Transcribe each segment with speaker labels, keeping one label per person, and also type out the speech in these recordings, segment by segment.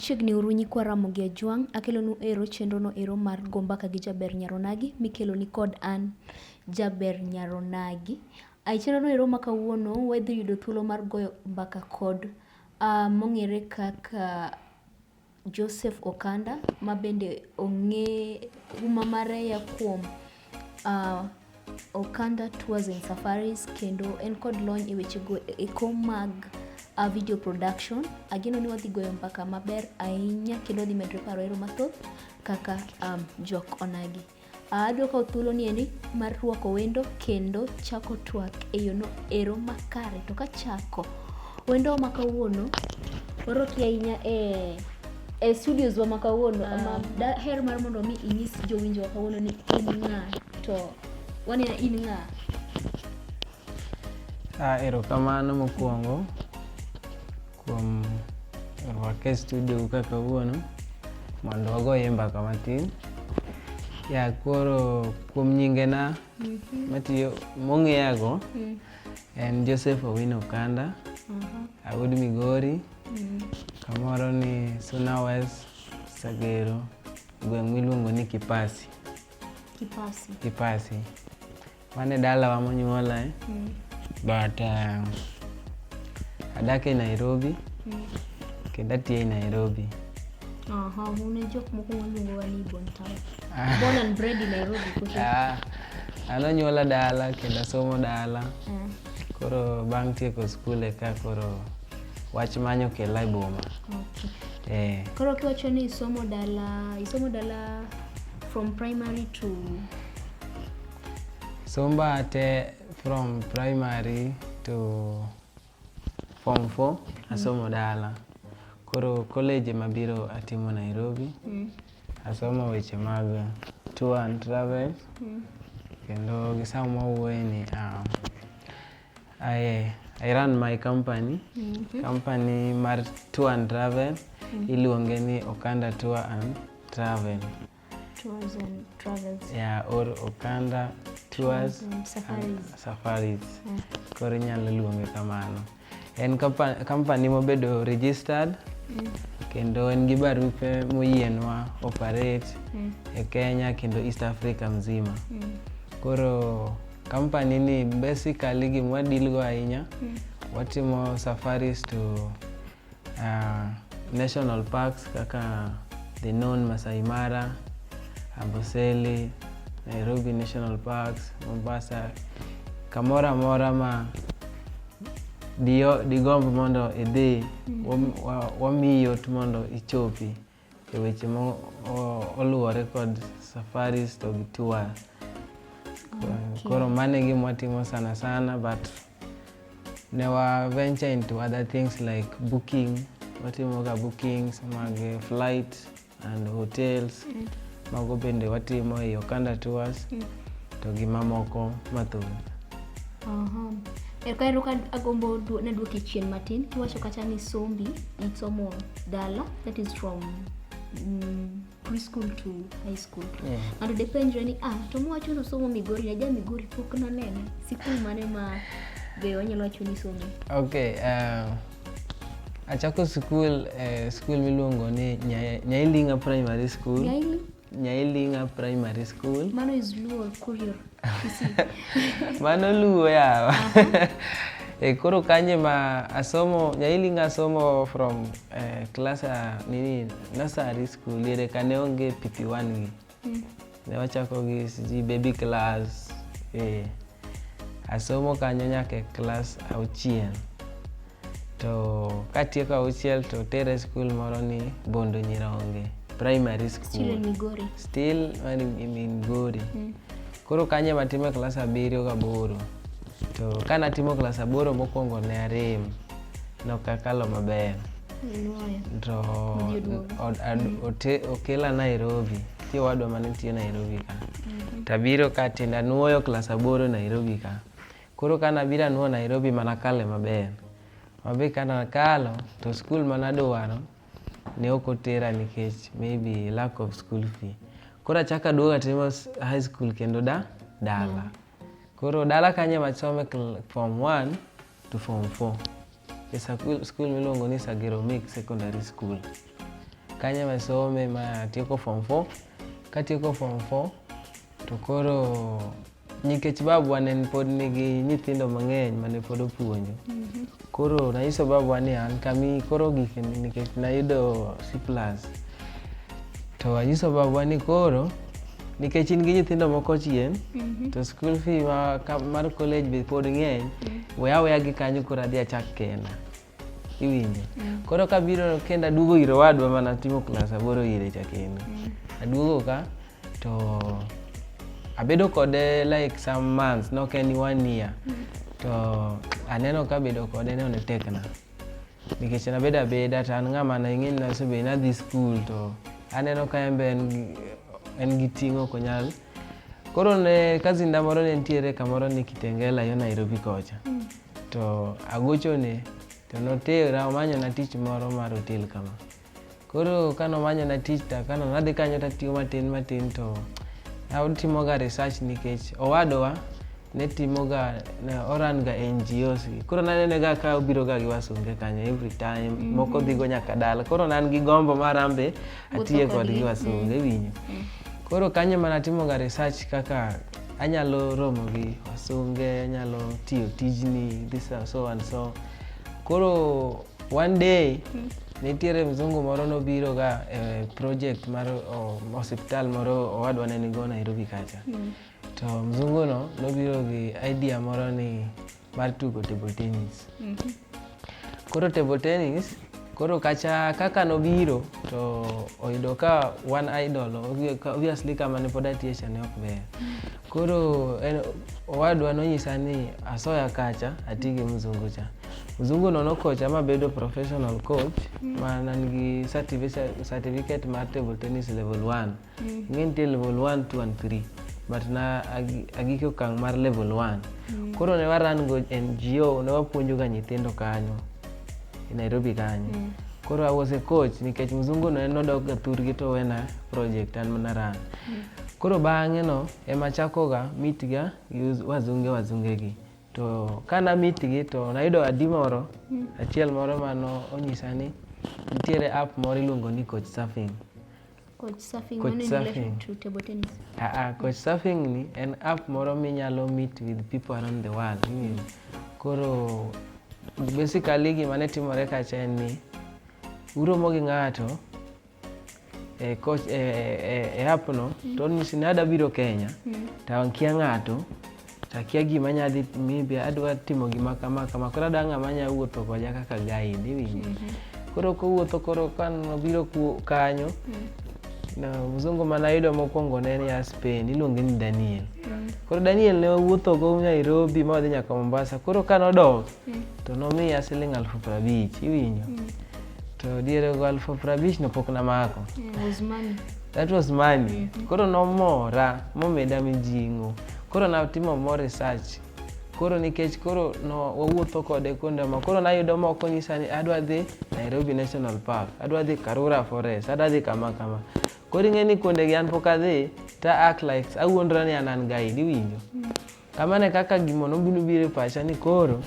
Speaker 1: Chiegni uru nyikwa Ramogi Ajwang', akelonu ero chenrono ero mar go mbaka gi Jaber Nyar Onagi mikeloni kod an Jaber Nyar Onagi. Ae chenrono ero ma kawuono wadhi yudo thuolo mar goyo mbaka kod ah, mong'ere kaka Joseph Okanda ma bende ong'e huma mare ya kuom ah, Okanda Tours and Safaris kendo en kod lony e weche go eko mag uh, video production. Ageno ni wadhi goyo mbaka maber ahinya kendo wadhi medre paro ero mathoth kaka um, jok onagi. Uh, adwa kawo thuolo ni eni mar rwako wendo kendo chako twak e yono ero makare to kachako wendo ma kawuono oroki ahinya e e studios wa makawuono ah. ma daher mar mondo mi inyis jowinjo kawuono ni in ng'a to wanena in ng'a
Speaker 2: ah, erokamano mokwongo kuom rwaka e studio ka kawuono mondo wagoye mbaka matin ya koro kuom nyingena mhm. matiyo mong'eyago mhm. en joseph owino kanda mhm. awud migori Mm. Kamoro ni Suna West Sagero, gweng' miluongo ni Kipasi. Kipasi. Kipasi. Mano e dalawa monyuola eh? Mm. But uh, adak e Nairobi mm. kendo atiyo e Nairobi. Aha,
Speaker 1: une jok moko waluongo ni Bon Town. Ah. Born and bred in Nairobi. Ah.
Speaker 2: Anonyuola dala kendo asomo dala. Mm. Koro bang' tieko skul eka koro wach manyo kela e boma. Okay. Eh,
Speaker 1: Koro kiwacho ni isomo dala, isomo dala from primary to
Speaker 2: somba te from primary to form 4 asomo dala. Koro college ema biro atimo Nairobi. mm. Asomo weche mag tour and travel mm. kendo gi saa mawuoye ni um, I, I run my company mm -hmm. company mar tour and travel mm. iluonge ni Okanda Tour and Travel tours
Speaker 1: and travels. Yeah, or
Speaker 2: Okanda tours and safaris. safaris. Yeah. Koro inyalo luonge kamano. En company mobedo registered mm. kendo en gi barupe moyienwa operate mm. e Kenya kendo East Africa mzima. Mm. Koro company ni basically gimwa deal go ahinya mm. watimo safaris to Uh, national parks kaka the known Masai Mara, Amboseli, Nairobi National Parks, Mombasa, kamora mora ma digomb mondo idhi wamiyi yot mondo ichopi. e weche moluwore kod safaris to gi tour koro mano e gima watimo sana sana but ne wa venture into other things like booking watimoga bookings mag flight and hotels mm. Mago bende watimo e Okanda Tours mm. to gi mamoko mathoth. Aha.
Speaker 1: E ka ero ka agombo na duoke chien matin kiwacho kata ni sombi isomo dala that is from mm, preschool to high school yeah. and depenjre ni ah to mwacho no somo migori na ja migori pok nanene sikul mane ma be wanyalo wacho ni somo okay
Speaker 2: uh, Achako skul eh, skul miluongo ni Nya- Nyailinga Primary School. Nyaili? Nyailinga Primary School. Mano is Luo
Speaker 1: Kurio.
Speaker 2: Mano luwo yawa. e koro kanye ma asomo Nyailinga asomo from eh, class ah, nini nursery school yere kane onge pipi one wi. Mm. Ne wachako gi siji baby class. Eh. Asomo kanyo nyaka e class auchiel. To katieko auchiel to tere skul moro ni Bondo Nyironge primary school.
Speaker 1: Still in Migori.
Speaker 2: Still in Migori. Mm. Koro kanye matime klas abiriyo gaboro to ka natimo klas aboro mokwongo ne arem nokakalo maber to okela Nairobi tie wadwa mane nitie Nairobi ka mhm. tabiro ka tiende anuoyo klas aboro Nairobi ka koro ka nabiro anuoyo Nairobi mana kale maber mabe ka nakalo to skul manadwaro ne ok otera nikech maybe lack of school fee. Koro achaka aduogo atimo high school kendo da dala. Mm. Koro dala kanye machome form 1 to form 4. E school miluongo ni Sagero Mix Secondary School. Kanye masome ma tieko form 4. Katieko form 4 To koro nikech babwa ne pod nigi nyithindo mang'eny mane pod opuonjo mhm. koro nanyiso babwa ni an kami koro gik nikech nayudo C plus to anyiso babwa ni koro nikech in gi nyithindo moko chien mhm. to school fee mar college be pod ng'eny mhm. we aweya gi kanyo koro adhi achak kenda iwinjo mm. koro kabiro kendo aduogo ir owadwa mana timo klas aboro ire cha kendo mm. aduogo ka to abedo kode like some months nok en one year mm. to aneno ka bedo kode ne onetekna nikech nabedo abeda to an ng'ama nang'e ni nasebedo nadhi skul to aneno ka en be en gi ting' ok onyal koro ne kazinda moro ne nitiere kamoro ni kitengela yo nairobi kocha mm. To agochone to notera omanyona tich moro mar otel kama. Koro ka nomanyona tich to ka nadhi kanyo to atiyo matin matin to atimoga research nikech owadwa ne timoga ne oran ga NGOs gi. Koro nanenega ka obiro ga gi wasunge kanyo every time moko dhigo nyaka dala. Koro ne an gi gombo mar an be atiye Wuotho kodgi. kodgi wasunge winyo. Koro kanyo mana timoga research kaka Anyalo romo gi wasunge, anyalo tiyo tijni, this and so and so. Koro one day hmm. nitiere mzungu moro nobiro ga e project mar osiptal moro owadwa ne nigo Nairobi kacha. Hmm. To mzunguno nobiro gi idea moro ni mar tugo table tennis. Mm -hmm. Koro table tennis koro kacha kaka nobiro to oyudo ka one idol obviously kama ne pod atiye cha ne ok ber koro en, owadwa nonyisa ni asoya kacha ati gi mzungu cha mzungu no nokocha mabedo professional coach mm. ma nan gi certificate mar table tennis level 1 mm. ing'e nitie level 1 2 and 3 but na agik okang' mar level 1 mm. koro ne waran go ngo ne wapuonjoga nyithindo kanyo e nairobi kanyo mm. koro i was a coach nikech mzungu no en nodokga thurgi to wena project an mana ran mm. koro bang'e no ema chakoga mitga gi wazunge wazungegi to ka namitgi to nayudo adi moro mm. achiel moro mano onyisa ni nitiere app moro iluongo ni coach surfing
Speaker 1: Coach surfing, coach surfing. To table tennis. Uh, uh, coach surfing
Speaker 2: ni en app moro minyalo meet with people around the world. Mm. Koro basically gima ne timore kacha en ni uromo gi ng'ato e, coach, e, e, e app no mm. to onyisi ni ada biro Kenya mm. to ankia ng'ato Akia gima nya dhi maybe adwa timo gima kama kama koro adwa ng'ama nya wuotho koda kaka guide iwinjo. Mm -hmm. Koro kowuotho koro kan obiro kanyo mm -hmm. na mzungu mana yudo mokwongo ne ni ya Spain iluonge ni Daniel. Mm -hmm. Koro Daniel ne wuotho go Nairobi ma odhi nyaka Mombasa koro kan odok mm -hmm. to nomiya siling alfu prabich iwinjo. Mm -hmm. to diere go alfu prabich no pok namako. Yeah, that was money mm -hmm. koro nomora momeda mijing'o koro natimo more research koro nikech koro no wawuotho kode kuonde ma koro nayudo moko nyisa ni adwa dhi nairobi national park adwa dhi karura forest adwa dhi kama kama koro ing'e ni kuondegi an pok adhi ta act like awuondra ni an an guide iwinjo mm. Kamano e kaka gimo nobino biro e pacha ni koro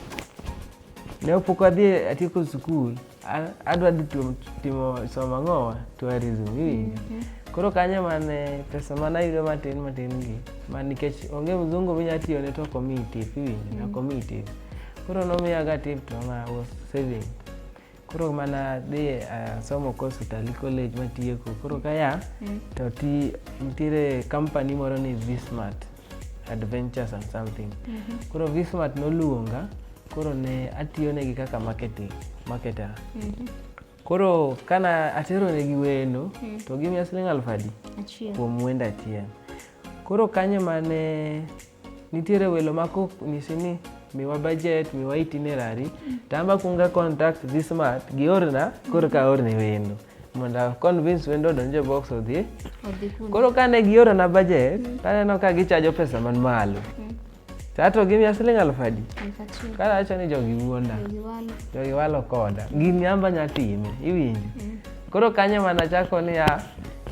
Speaker 2: ne opok adhi e, atieko skul adwa dhi timo somo ang'owa tourism iwinjo mhm. koro kanyo mane pesa mane ayudo matin matin gi ma nikech onge mzungu minya tiyone to okomiyi tip iwinjo mhm. okomiyi tip koro nomiyaga tip to na was saving koro mana dhi eh, asomo course Utalii College matieko koro kaya mm. to ti nitiere company moro ni Vismart Adventures and something mm -hmm. koro Vismart noluonga koro ne atiyonegi kaka marketing marketer mm -hmm. koro kana ateronegi wendo mm. to gimiya siling aluf adi kuom wendo achiel koro kanyo mane Nitiere welo ma konyisi ni miwa budget, miwa itinerary, to an be akwongo contact dhi smart giorna koro ka aorne wendo mondo a convince wendo odonj e box odhi. Odhi kuno. Koro kane giorona budget, to aneno ka gichajo pesa man malo. To ato gimiya siling' aluf adi? Alif achiel. Kara awacho ni jogi wuonda, Jogi walo. jogi walo koda. Gini an be anya time, iwinjo? Koro kanyo mana chako niya,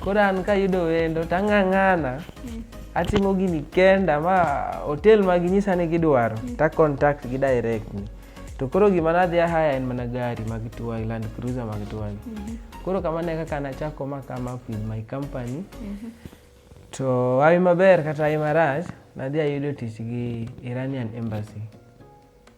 Speaker 2: koro an kayudo wendo tang'ang'ana mm. atimo gini kenda ma hotel ma ginyisa ni gidwaro mm. ta contact gi direct ni to koro gima nadhi ahaya en mana gari mag tuwagi land cruiser mag tuwagi mm -hmm. koro kamano e kaka nachako ma come up with my company mm -hmm. to awi maber kata awi marach nadhi ayudo tich gi iranian embassy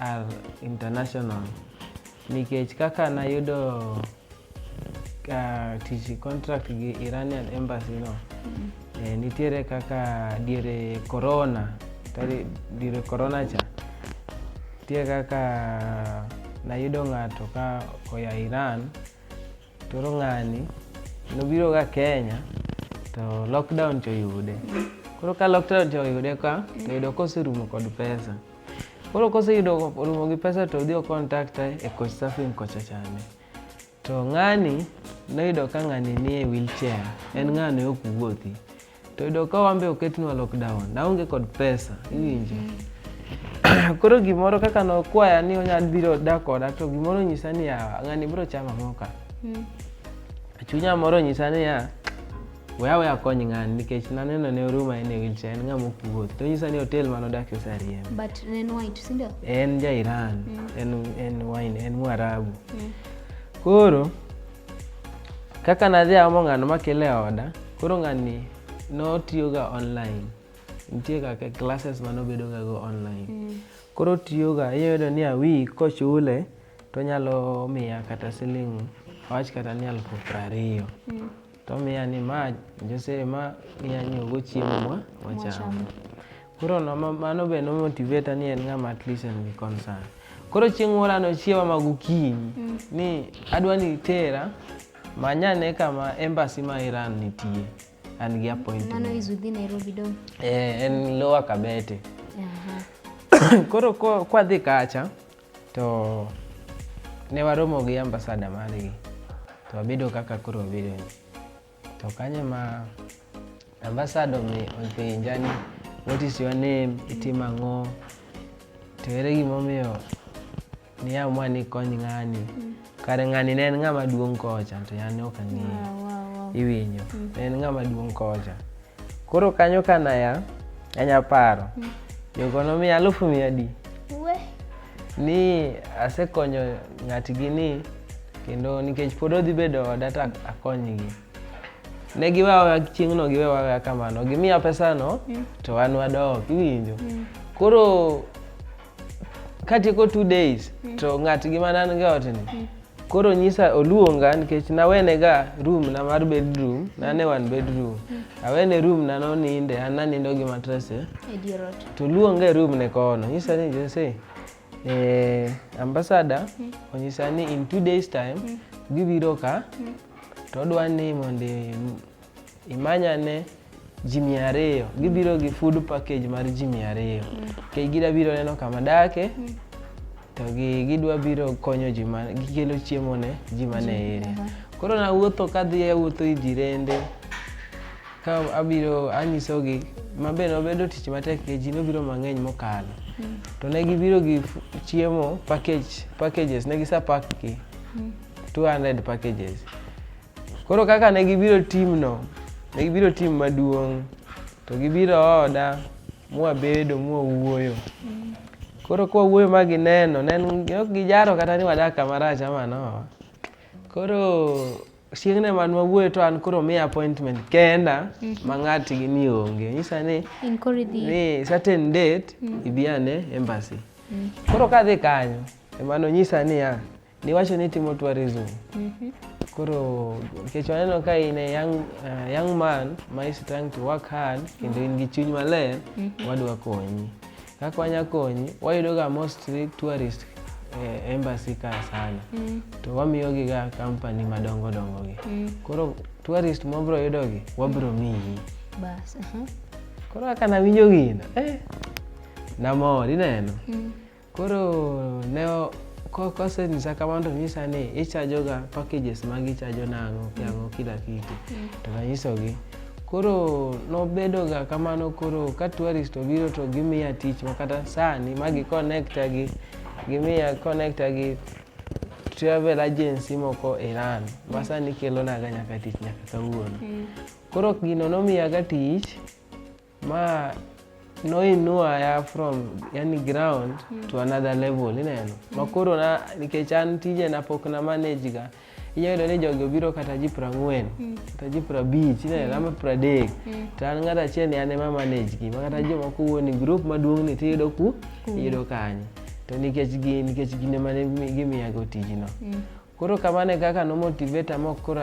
Speaker 2: Al International nikech kaka nayudo uh, tich contract gi Iranian embassy no mm-hmm. eh, nitiere kaka diere corona tari diere corona cha nitie kaka nayudo ng'ato ka oya Iran Koro ng'ani nobiroga Kenya to lockdown to oyude. Koro ka lockdown to oyude ka to yudo koserumo kod pesa. Koro koseyudo orumo gi pesa to odhi okontakta e coach surfing kocha chande. To ng'ani noyudo ka ng'ani nie wheelchair, en ng'ano ok wuothi. to yudo ka wambe oketnwa lockdown naonge kod pesa iwinjo mm-hmm. koro gimoro kaka nokwaya ni onyal biro da koda to gimoro nyisa ni yawa ng'ani biro chama moka mm. chunya moro nyisa ni ya weya weya kony ng'ani nikech naneno ne oruma en e wilcha en ng'ama okuwuoth to nyisa ni hotel mane odakie osariemb
Speaker 1: en ja iran
Speaker 2: mm. en wine en mwarabu mm. koro Kaka nadhi aomo ng'ano makele e oda, koro ng'ani notiyoga online. Nitie kaka classes ma nobedoga go online. Mm. Koro tiyoga, iyudo ni a week kochule, tonyalo miya kata siling' awach kata ni alufu prariyo. Mm. Tomiya ni ma Jose ma inya nyiewogo chiemo mwa wacham. Koro no, ma- mano be nomotiveta ni en ng'ama at least en gi concern. Koro chieng' moro anochiewa ma gokinyi ni adwa ni itera manyane kama embassy ma Iran nitie an gi appointment. Mano is within
Speaker 1: Nairobi dong. Eh, en lower
Speaker 2: Kabete. Aha. Koro ko- kwadhi kacha to ne waromo gi ambasada margi to wabedo kaka koro wabedo ni. To kanye ma ambasado mi openja ni what is your name, itimo ang'o, to ere gimomiyo niamua ni kony ng'ani. Mm. Kare ng'ani ne en ng'ama duong' kocha to yan ne ok ang'eyo. Iwinjo, ne en ng'ama duong' kocha. Koro kanyo ka naya, anya paro. Mm. Jogo nomiya alufu mia adi. We. Ni asekonyo ng'atgi ni kendo nikech pod odhi bedo oda to akonygi. Ne giwewa chieng'no giwewa kamano. Gimiya pesano mm. to an wadok iwinjo. Mm. Koro katieko two days mm. to ng'atgi manan ga otni mm. koro nyisa oluonga nikech nawene ga room na mar bedroom nane one bedroom mm. awene room na noninde an nanindo gi matrese eh. to luonga e room ne kono nyisa ni jose eh, ambasada mm. onyisa ni in two days time mm. gibiro ka mm. to odwa ni mondo imanyane ji mia ariyo gibiro gi food package mar ji mia ariyo kech mm. gida biro neno kama dake mm. to gidwa biro konyo ji ma gikelo chiemo ne ji mane area koro nawuotho kadhi awuotho i jirende ka abiro anyisogi ma be nobedo tich matek ke ji nobiro mang'eny mokalo mm. to ne gibiro gi chiemo package packages ne gisapak gi 200 packages Koro kaka ne gibiro timno, ne gibiro tim maduong' to gibiro oda mwabedo mwawuoyo. Koro kwawuoyo ma gineno, ne en- ok gijaro kata ni wadak kama rach ama no. Koro chieng'ne man wawuoyo to an koro miya appointment kenda ma ng'atgi ni onge. Nyisa ni In koro idhi. ni certain date ibi ane embassy. Koro kadhi kanyo ema nonyisa niya Niwacho ni timo tourism. Mm -hmm. Koro nikech waneno ka in a young, uh, young man ma is trying to work hard kendo in gi chuny maler, mm -hmm. wadwa konyi. Kaka wanya konyi, wayudo ga mostly tourist eh, embassy ka sana. Mm. To wamiyo gi ga company madongo dongo gi. Mm. Koro tourist mobro yudo gi, wabro miyi. Bas, uh -huh.
Speaker 1: Koro
Speaker 2: kaka nawinjo gino, eh, namor ineno. Mm. Koro ne kosenyisa kamano to nyisa ni ichajoga packages ma gichajo nang'o kiang'o kila kitu mm. to nanyisogi koro nobedoga kamano koro ka tourist obiro to gimiya tich makata sani ma giconnecta gi gimiya connecta gi travel agency moko Iran ma sani kelonaga nyaka tich nyaka kawuono mm. koro gino nomiyaga tich ma noinua ya from yani ground mm. to another level ineno mm. makoro na nikech an tije na pok na manage ga inyalo yudo ni jogi obiro kata ji prang'wen mm. kata ji prabich ineno mm. ama pradek mm. to an ng'ato achiel ni an ema manage gi makata mm. jomoko wuoni group maduong' ni tiyudo ku mm. iyudo kanye to nikech gin nikech gin ema gimiyago tijno mm. Koro kamano e kaka nomotivate ama ok koro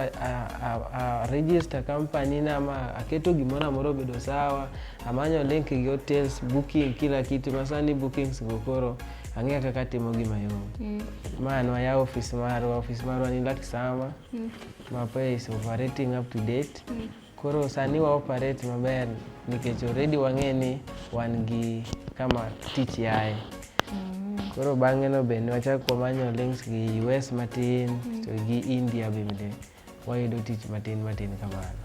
Speaker 2: aregister company na ama aketo gimoro amoro obedo sawa, amanyo link gi hotels, booking kila kitu ma sani bookings go koro ang'eyo kaka atimo gi mayom. Mm. Ma an wayawo ofis marwa, ofis marwa ni Lakisama. Mm. Mapa is operating up to date. Mm. Koro sani wa operate maber nikech already wang'e ni wan gi kama tich yaye. Mm. Koro bang'e no be ne wachako wamanyo links gi US matin mm. to gi India bende wayudo tich matin matin kamano.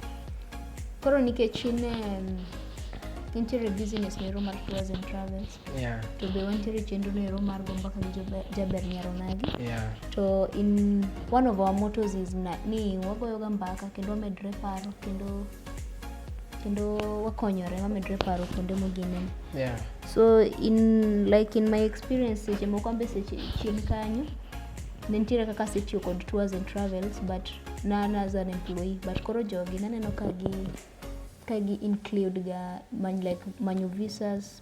Speaker 1: Koro nikech in um, interior business mero mar tours and travels Yeah. To be wantiere chenro no ero mar gomba ka jaber nyaro nagi. Yeah. To in one of our mottos is na, ni wagoyo ga mbaka kendo wamedre paro kendo kendo wakonyore wamedre paro kuonde mogine. Yeah. So in like in my experience seche moko ambe seche chien kanyo ne nitiere kaka asetiyo kod tours and travels but nan as an employee but koro jogi naneno ka gi ka gi include ga many like manyo visas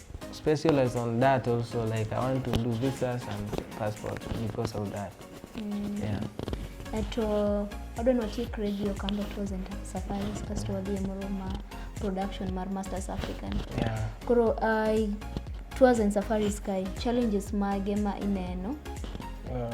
Speaker 2: specialize on that also like i want to do visas and passport because of that mm. yeah at
Speaker 1: uh, I don't know take radio kamba present safaris kasto wadhi moro ma production mar masters african yeah. koro uh, tours and safaris kai challenges mage ma ineno uh,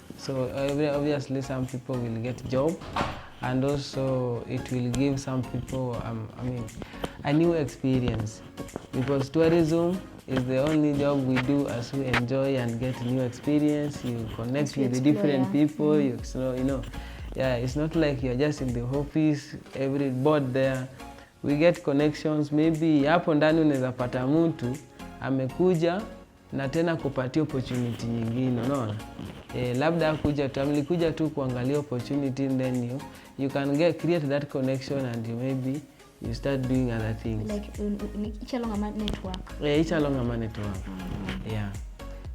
Speaker 2: So uh, obviously some people will get job and also it will give some people um, I mean a new experience because tourism is the only job we do as we enjoy and get new experience you connect with the different people you know, you know yeah it's not like you're just in the office every board there we get connections maybe hapo ndani unaweza pata mtu amekuja na tena kupatia opportunity nyingine, unaona e, labda kuja tu mlikuja tu kuangalia opportunity then you, you can get create that connection and you maybe you start doing other things like each
Speaker 1: along a network yeah, each along a
Speaker 2: network mm -hmm. yeah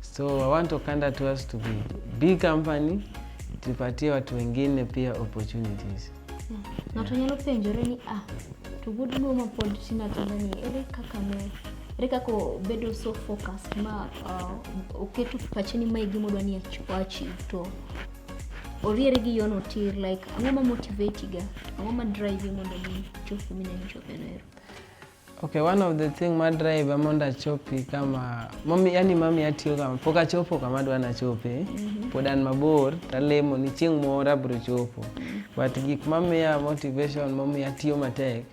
Speaker 2: so I want Okanda to us to be big company tupatie watu wengine pia opportunities Ng'ato
Speaker 1: nyalo penjore ni ah, to wuod luo ma pod tin atinda ni ere kaka ne ere kaka obedo so focus ma uh, oketo pache ni mae gima odwa ni achieve to oriere gi yono tir like ang'o ma motivate ga ang'o ma drive mondo mi chop mineno chopeno ero Okay,
Speaker 2: one of the thing ma drive mondo achopi kama mami, yani mami atiyo kama pok achopo kama dwa nachope mm -hmm. pod an mabor talemo ni chieng' moro abiro chopo mm -hmm. but gik mamiya motivation mamiya tiyo matek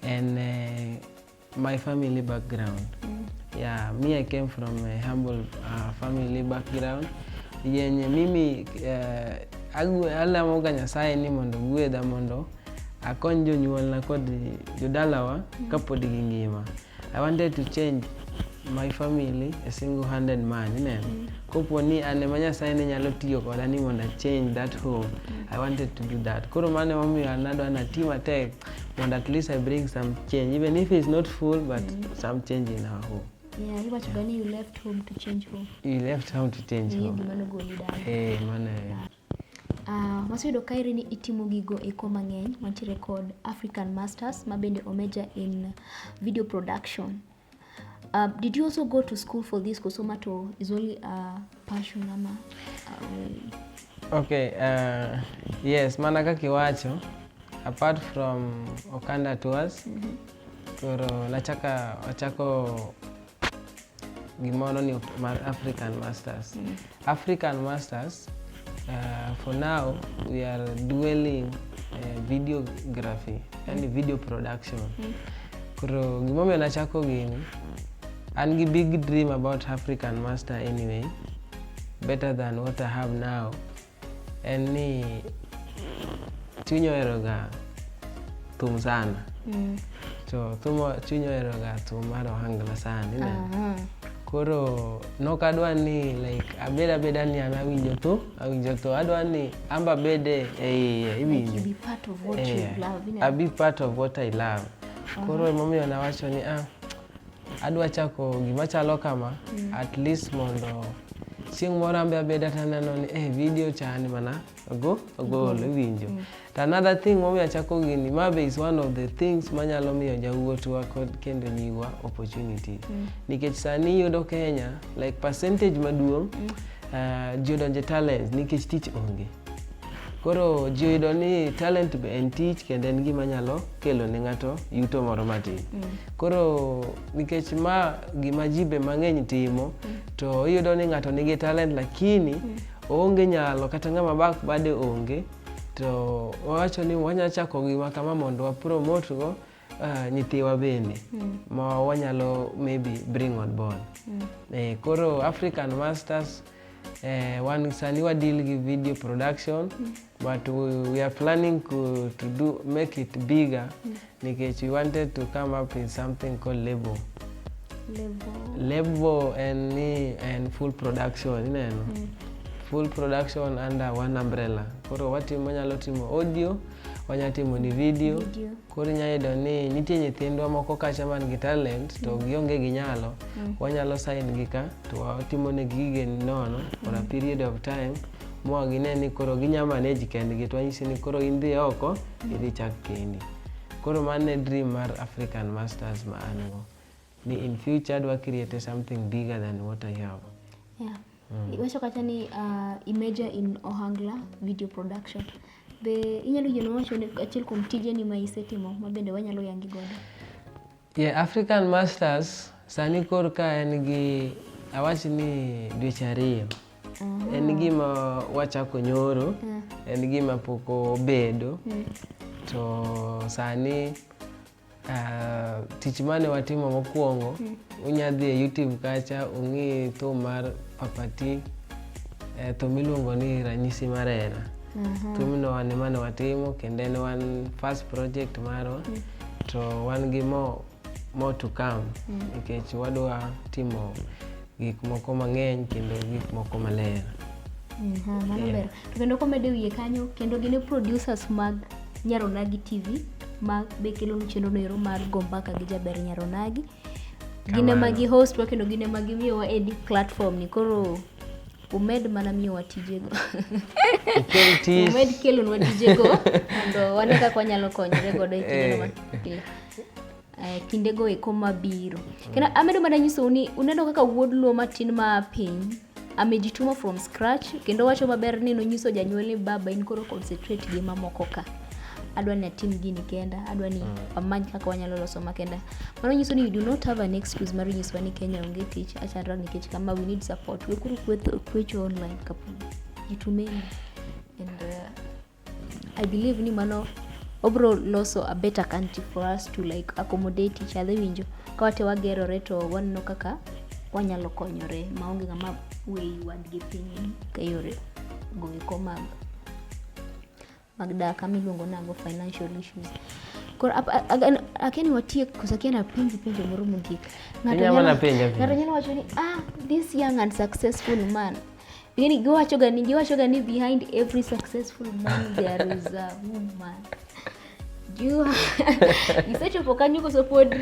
Speaker 2: en uh, my family background mm -hmm. yeah, me I came from a humble uh, family background yenye mimi uh, eh, alamoga Nyasaye ni mondo gwedha mondo Akony jonyuolna kod jodalawa mm. kapod gingima. I wanted to change my family a single handed man ineno mm. kopo ni an ema nyasaye ne nyalo tiyo koda ni mondo achange that home mm. i wanted to do that koro mano emomiyo an adwa nati matek mondo at least i bring some change even if it's not full but mm. some change in our home Yeah,
Speaker 1: iwacho yeah. gani you left home to
Speaker 2: change home. You left home to change home. Mano goli dala. Eh, mano.
Speaker 1: Waseyudo kaeri ni itimo gigo eko mang'eny. Wantiere kod African Masters ma bende omejor in video production. Uh, did you also go to school for this koso ma to is only a passion ama uh, Okay,
Speaker 2: uh, yes, mana kaka iwacho, apart from Okanda Tours, koro nachaka achako gimoro ni mar African Masters. Mm. African Masters uh, for now we are dwelling uh, videography, yani mm. video production. Mm. Koro gimomiyo nachako gini an gi big dream about African Master anyway better than what I have now en ni chuny oheroga thum sana mm. to thum chuny oheroga thum mar ohangla sana ineno uh -huh. koro nok adwa ni like abed abeda ni an awinjo tho awinjo tho adwa ni amba bede e iye iwinjo
Speaker 1: like abi part of what
Speaker 2: i love uh -huh. koro emomiyo nawacho ni ah Adwa chako gima chalo kama mm. at least mondo chieng' moro ambe abeda taneno ni eh, video chani mana ogo ogol mm. iwinjo mm. to another thing momiyo achako gini ma be is one of the things manyalo miyo jawuotwa kod kendo nyiwa opportunity mm. nikech sani yudo Kenya like percentage maduong' mm. uh, eh, jodonje talents nikech tich onge Koro ji oyudo ni talent be en tich kendo en gima nyalo kelo ne ng'ato yuto moro matin. Mm. Koro nikech ma gima ji be mang'eny timo mm. to iyudo ni ng'ato nigi talent lakini mm. oonge nyalo kata ng'ama bak bade onge to wawacho ni wanyalo chako gima kama mondo wapromotgo Uh, nyithiwa bende mm. ma wanyalo maybe bring on board mm. eh, koro african masters eh, wan sani wadeal gi video production mm. but we, we are planning to, to do make it bigger mm. nikech we wanted to come up in something called label label and ni and full production ineno mm. full production under one umbrella koro watimo wanyalo timo audio wanyalo timo ni video, video. Koro inyalo yudo ni nitie nyithindwa moko kacha man gi talent to gionge gi nyalo, wanyalo sign gi ka to watimo ne gige nono for a period of time ma gine ni koro ginya manage kendgi to wanyisi ni koro in dhi oko idhi chak kendi. Koro mano e dream mar African Masters ma an go. ni in future adwa create something bigger than what I have. Yeah.
Speaker 1: Mm. Iwacho kata ni uh, imagine in Ohangla video production. Be inyalo yieno wacho ni achiel kuom tije ni ma isetimo ma bende wanyalo yangi godo. Yeah,
Speaker 2: African Masters sani kor ka en gi awach ni dweche ariyo. Uh mm-hmm. -huh. En gima wachako nyoro. Uh mm. -huh. En gima pok obedo. Uh mm. -huh. To sani Ah, tich mane watimo mokwongo hmm. unya dhi e youtube kacha ung'i thum mar papati eh, thum iluongo ni ranyisi mar hera mhm. thumno wan emane watimo kendo en wan first project marwa hmm. to wan gi mo, mo to come hmm. nikech wadwa timo gik moko mang'eny kendo gik moko maler. Aha,
Speaker 1: mano Yeah. ber. To kendo komede wiye kanyo kendo gin e producers mag Nyaronagi TV ma be kelo nu chenro noero mar go mbaka gi jaber Nyaronagi. Gin ema Kamano. gi host wa kendo gin ema gimiyowa edi platform ni koro umed mana miyowa tijego. Ikel tich. umed kelonwa tijego mondo wane kaka wanyalo konyore godo e kindeno Eh. mabiro. Eh, kinde go eko mabiro kendo amedo mana nyisou ni uneno kaka wuod luo matin ma piny amejituma from scratch kendo wacho maber ni nonyiso janyuol ni baba in koro concentrate gi mamoko ka adwa ni atim gini kenda adwa ni mm. wamany kaka wanyalo loso makenda mano nyiso ni you do not have an excuse mar nyiswa ni kenya onge tich achara nikech kama we need support wekuru kwecho online kapuni jitumeni and uh, I believe ni mano obro loso a better country for us to like accommodate each other winjo ka wate wagerore to waneno kaka wanyalo konyore maonge ng'ama weyi wadgi piny ka yore goeko mag mag dak ama iluongo nago financial issues koro ap- a- a- akiani watiek koso akiani apenji penjo moro mogik Ng'ato Inyalo nyalo- mana penja penja. ng'ato nyalo wacho ni ah this young and successful man Yaani giwacho gani giwacho gani behind every successful man there is a woman. You isecho pokanyo koso pod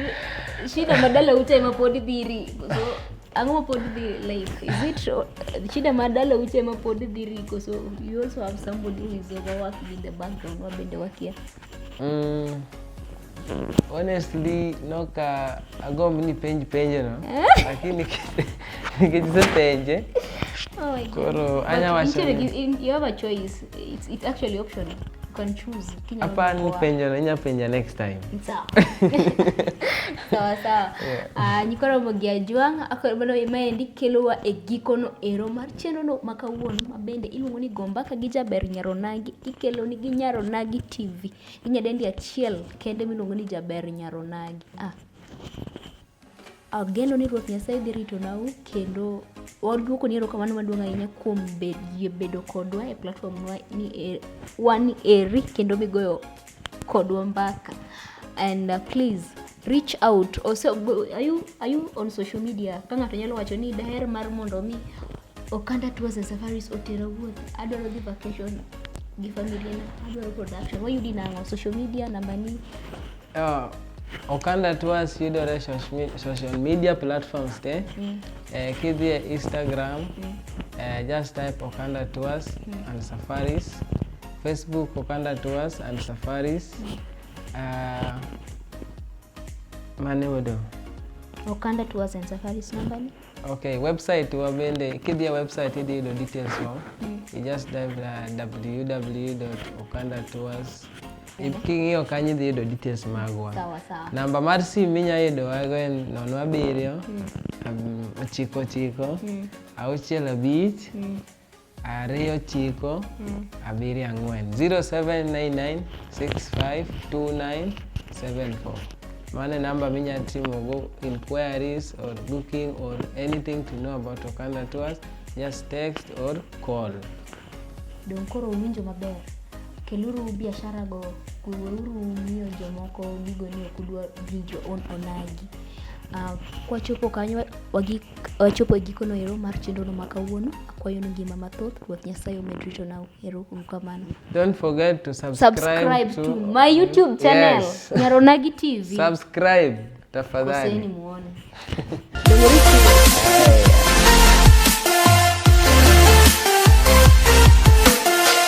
Speaker 1: shida madala utema pod dhiri. So ang'o ma pod dhi like is it shida ma dala uche ma pod dhi riko so you also have somebody who is overworking in the background ma bende wakia Mm,
Speaker 2: honestly noka agomb ni penj penjo no lakini nikech isepenje Oh my God.
Speaker 1: koro But anya wacho
Speaker 2: instead of ni- you- you have a
Speaker 1: choice. It's, it's actually optional. You can choose. Kenya hapana Mkoa. penjo
Speaker 2: no inya penja next time
Speaker 1: Sawa. sawa sawa Yeah. Ah, nyikoro mogi ajwang' akoro bado maendi kelowa e gikono ero mar chenrono ma kawuono ma bende iluongo ni gombaka gi jaber nyaronagi ikeloni gi Nyaronagi TV gi nyadendi achiel kende miluongo ni Jaber Nyaronagi. Ah. Ageno ni Ruoth Nyasaye dhi ritonau kendo waduoko ni erokamano maduong' ahinya kuom yie bedo kodwa e platform e, wan eri kendo migoyo kodwa mbaka and uh, please reach out also are you, are you on social media ka ng'ato nyalo wacho ni daher mar mondo mi okanda tours and safaris otera wuoth adwaro dhi vacation gi familia na adwaro production wayudi nang'o social media namba ni uh, Okanda
Speaker 2: Tours yudore social media platforms te mm. eh, kidhi e Instagram mm. eh, just type Okanda Tours mm. and Safaris Facebook Okanda Tours and Safaris. Uh, mane odo? Okanda
Speaker 1: Tours and Safaris number ni? Okay, website
Speaker 2: wa bende kidhia website idhi yudo details wa. Mm. You just dive uh, www.okandatours. Mm. King'iyo kanyo idhi yudo details magwa. Sawa sawa. Namba
Speaker 1: mar simu
Speaker 2: minya yudo wago en nono abiriyo. Mm. Um, ochiko ochiko. Mm. Auchiel abich. Mm. ariyo chiko mm. abiriyo ang'wen 0799652974 mano e namba minyalo timogo inquiries or booking or anything to know about Okanda tours just text or call dong
Speaker 1: koro uwinjo maber keluru biashara go weuru miyo jomoko gigo ni ok udwa bring your own onagi uh, kwachopo kanyo wagik Wachopo e gikono ero mar chenrono ma kawuono. Akwayo ni ngima mathoth, Ruoth Nyasaye omed rito nau. Ero uru kamano. Don't forget
Speaker 2: to subscribe, Subscribe to my YouTube
Speaker 1: channel, Yes. Nyaronagi TV. Subscribe
Speaker 2: Koseni
Speaker 1: tafadhali. muone.